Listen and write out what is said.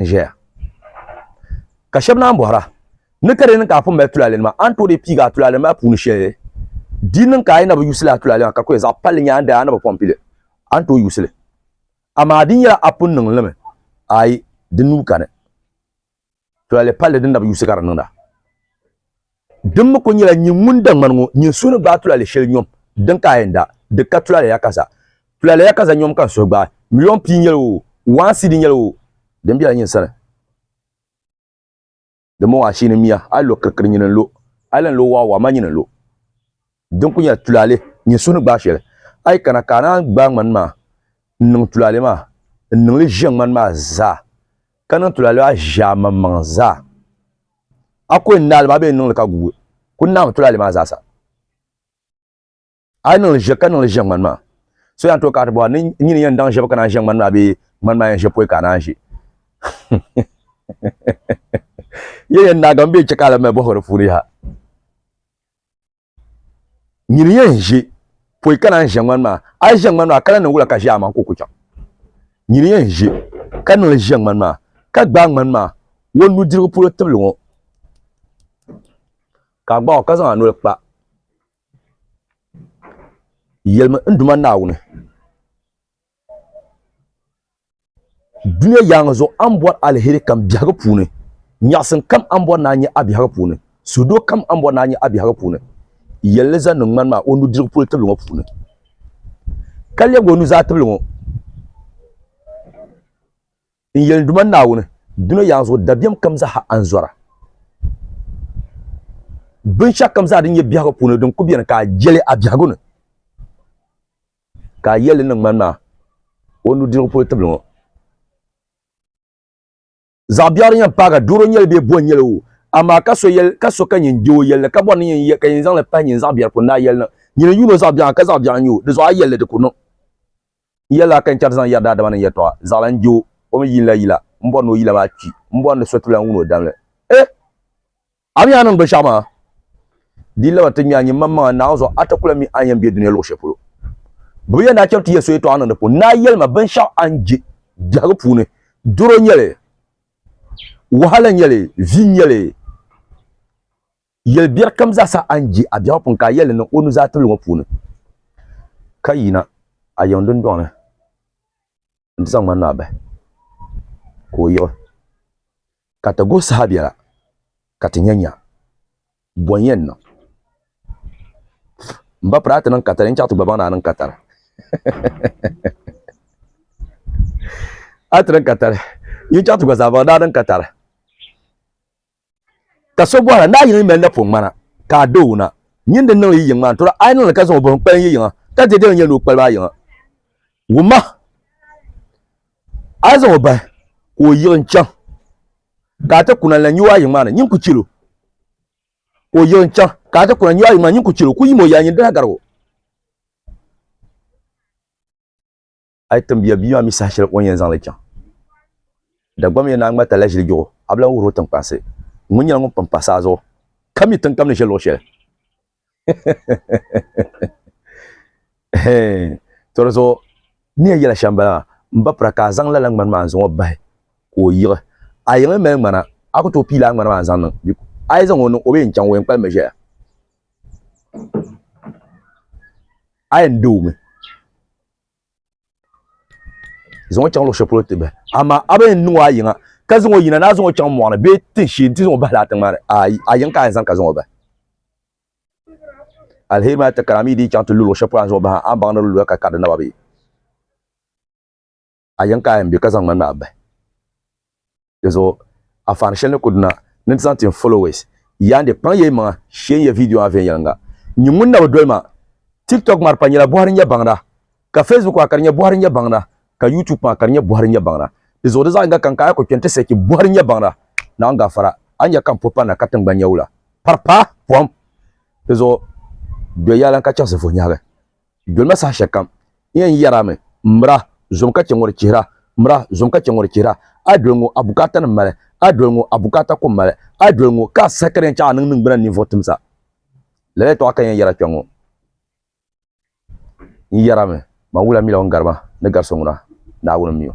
n ʒɛya ka shab naan bohara ni ka di niŋ ka a pun mali tulaalɛ nima a ni tooi dii piigi a tulaalɛ maa puuni shɛli di niŋ ka a yi na bi yuusili a tulaalɛ maa ka kuli zaɣ palli nyaa di a ni bi pun pili a ni tooi yuusili amaa di nyɛla a pun niŋ limi ayi di nuu kani tulaalɛ palli din na bi yuusi ka di niŋda Din mi kul nyɛla nyin ŋun da ŋmani ŋɔ, nyin suhu ni gbaai tulale shɛli nyom din ka a yɛn da di ka tulale yakaza. Tulale yakaza nyom ka n suhu gbaai, miliyon pia nyɛla o, waan sidi nyɛla o din bela nyin sani. Dimbɔŋɔ ashihini miya, a yi lo kirikirinyini n-lo, a yi lan lo waɣiwaɣimanyini n-lo, Din kuli nyɛla tulaalɛ nyini suhu ni gbaai shɛli, a yi kana ka a naan gbaai ŋmani maa n-niŋ tulaalɛ maa n-niŋ li ʒiɛm ŋmani maa zaa, ka niŋ tulaalɛ maa ʒiɛ a maŋmaŋ zaa. A ku yɛn naai li maa bee n-niŋ li ka guui kul naami tulaalɛ maa zaasa? A yi niŋ li ʒiɛ ka niŋ li ʒiɛm ŋmani maa, so yɛn tooi kana ti bɔha ni nyini yɛn daŋ ʒiɛbu ka naan ʒiɛ ŋmani maa bee ŋmani maa yɛn ʒiɛ pɔi ka a naan ʒi? Yɛn yɛn naagimi bee chɛ ka a lahi mali bɔhigu di puuni yaha? nyini yɛn ʒe pɔi ka naan ʒe ŋmani maa a yi ʒe ŋmani maa ka lan niŋ wula ka ʒe a maŋa ka o ku chaŋ nyini yɛn ʒe ka niŋli ʒe ŋmani maa ka gbaai ŋmani maa o nudirigu polo tibili ŋɔ ka a gbaai o ka zaŋ a noli kpa yɛlimi n Duuma Naawuni. Dunia yaaŋa zuɣu a ni bɔri aliheri kam biɛhigu puuni, nyaɣisim kam a ni bɔri ni a nya a biɛhigu puuni, suhudoo kam a ni bɔri ni a nya a biɛhigu puuni, yɛli li zaŋ niŋ ŋmani maa o nudirigu polo tibili ŋɔ puuni, ka lɛbigi o nuzaa tibili ŋɔ n yɛli ni, Duuma n Naawuni, dunia yaaŋa zuɣu dabiɛm kam zaaha a ni zɔra, binshɛɣukam zaa din nyɛ biɛhigu puuni din kul beni ka a je li a biɛhigu ni. Ka a yɛli ni ŋmani maa o nudirigu polo tibili ŋɔ. Zaɣ'biɛɣiri yɛn paaga duuro nyɛli bee bo nyɛli o, amaa ka so yɛli ka so ka nyin je o yɛlli ka bɔri ni nyin yɛ ka nyin zaŋ li pahi nyin zaɣ'biɛri pun daa yɛli niŋ. Nyin n-yuuni o zaɣ'biɛɣu ka zaɣ'biɛɣu n-nya o, di zuɣu a yɛlli di ku niŋ. N yɛli a ka n chɛri ti zaŋ yɛri daadama ni yɛltɔɣa, zaɣila n-je o, o mi yiinila yila, m-bɔri ni o yila maa kpi, m-bɔri ni so ti lan wun o damli. Eh! A mi a ni binshaɣu maa, di yi laba ti ŋme a nyimmaŋmaŋa Naawuni zuɣu, a ti ku lan mi a ni yɛn be dunia luɣ shɛli polo. Bɛ bi yɛn daa cham ti Yɛsu yɛtɔɣa niŋdi puuni. Naa yɛli ma, Binshɛɣu a ni je biɛhigu puuni, doro nyɛ li, wahala nyɛ li, vi nyɛ li, yɛl biɛri kam zaa sa a ni je a biɛhigu puuni, ka a yɛli li niŋ o nuzaa tibili ŋɔ puuni, ka yina a yiŋ dundɔŋ ni. n ti zaŋ ŋmani maa bahi ka o yiɣi ka ti guhi saha biɛla ka ti nyɛ nya bɔn yɛn niŋ n ba piri a ti niŋ katali n chaɣ ti gba baŋ ni a niŋ katali a ti niŋ katali yi chaɣ ti gba zaa baŋ ni a niŋ katali Ka so bɔhira, Naa yini yi mali napɔŋ ŋmana, ka a doo na, nyin di niŋ yi yiŋ maa n-tɔra, a yi niŋ li ka zaŋ o buɣim kpalim yi yiŋa, ka di dini n-nyɛ ni o kpalim a yiŋa? Wumma! A yi zaŋ o bahi ka o yiɣi n-chaŋ, ka a ti kuna n-lan nyu a yiŋ maa ni, nyin ku chil o. Ka o yiɣi n-chaŋ, ka a ti kuna n-nyu a yiŋ maa ni, nyin ku chil o. Ku yim o yɛla nyin dala garigu. a yi tim bia bia maa mi saha shɛli o ni yɛn zaŋ li chaŋ Dagbam yɛn naa ŋmalita la ʒili juɣu a bi lan wuhir o tiŋkpansi ŋun nyɛla ŋun pun pa saa zuɣu ka mi tiŋkam ni ʒe luɣ shɛli to di zuɣu niya yɛla shɛm bala maa m ba pira ka a zaŋ lala ŋmani maa n-zaŋ o bahi ka o yiɣi a yiŋ m-mali ŋmana a ku tooi pii lala ŋmani maa n-zaŋ niŋ a yi zaŋ o niŋ o bi yɛn chaŋ o yɛn kpalim mi ʒɛya a yɛn deei o mi zaŋ o chaŋ luɣu shɛli polo ti bahi amaa a bi yɛn niŋ o a yiŋa ka zaŋ o yina ni a zaŋ o chaŋ mɔɣu ni bee tin shee nti zaŋ o bahi laa tiŋ maa ni ayi a yiŋ ka a yɛn zani ka zaŋ o bahi alheri maa ti kari a mi di yi chaŋ ti lu luɣu shɛli polo a ni zaŋ o bahi a ni baŋ ni di luya ka kari di naba bee a yiŋ ka a yɛn bɛ ka zaŋ ŋmanimi a bahi Di zuɣu anfaani shɛli ni kuli duna ni nti zaŋ ti n followers. Yaande kpaŋ ya yi maŋa shee n-yɛ viidiyo maa viɛnyɛliŋga. N nyu ŋun na bi doli ma. Tiktok maa di pah nyɛla bɔhiri n-nyɛ baŋda, ka Facebook maa ka di nyɛ bɔhiri n-nyɛ baŋda, ka YouTube maa ka di nyɛ bɔhiri n-nyɛ baŋda. Di zuɣu di zaɣ yiŋga kam ka a yi kuli kpe nti sechi bɔhiri n-nyɛ baŋda, Naawuni gafara, a ni nya ka m po panda ka tiŋgbani nya wula. Pari paai pom! Di zuɣu dɔya lan ka chaŋsi vuh'nyɛhigu. Dolima saha shɛli kam n yɛn yɛrami, M mira, zom ka chɛ ŋɔ di chihira, M mira, zom ka chɛ ŋɔ di chihira. A yi doli ŋɔ, a bukaatanima mali, A yi doli ŋɔ, a bukaata kum mali, A yi doli ŋɔ, ka a saha ka di yɛn chaɣ a niŋ niŋgbuna ni ninvuɣ timsa. Lala yɛtɔɣa ka n yɛn yɛra kpe ŋɔ. N yɛrami, Man wula mila ŋun gari ma ni gari so ŋuna, Naawuni m-mi o.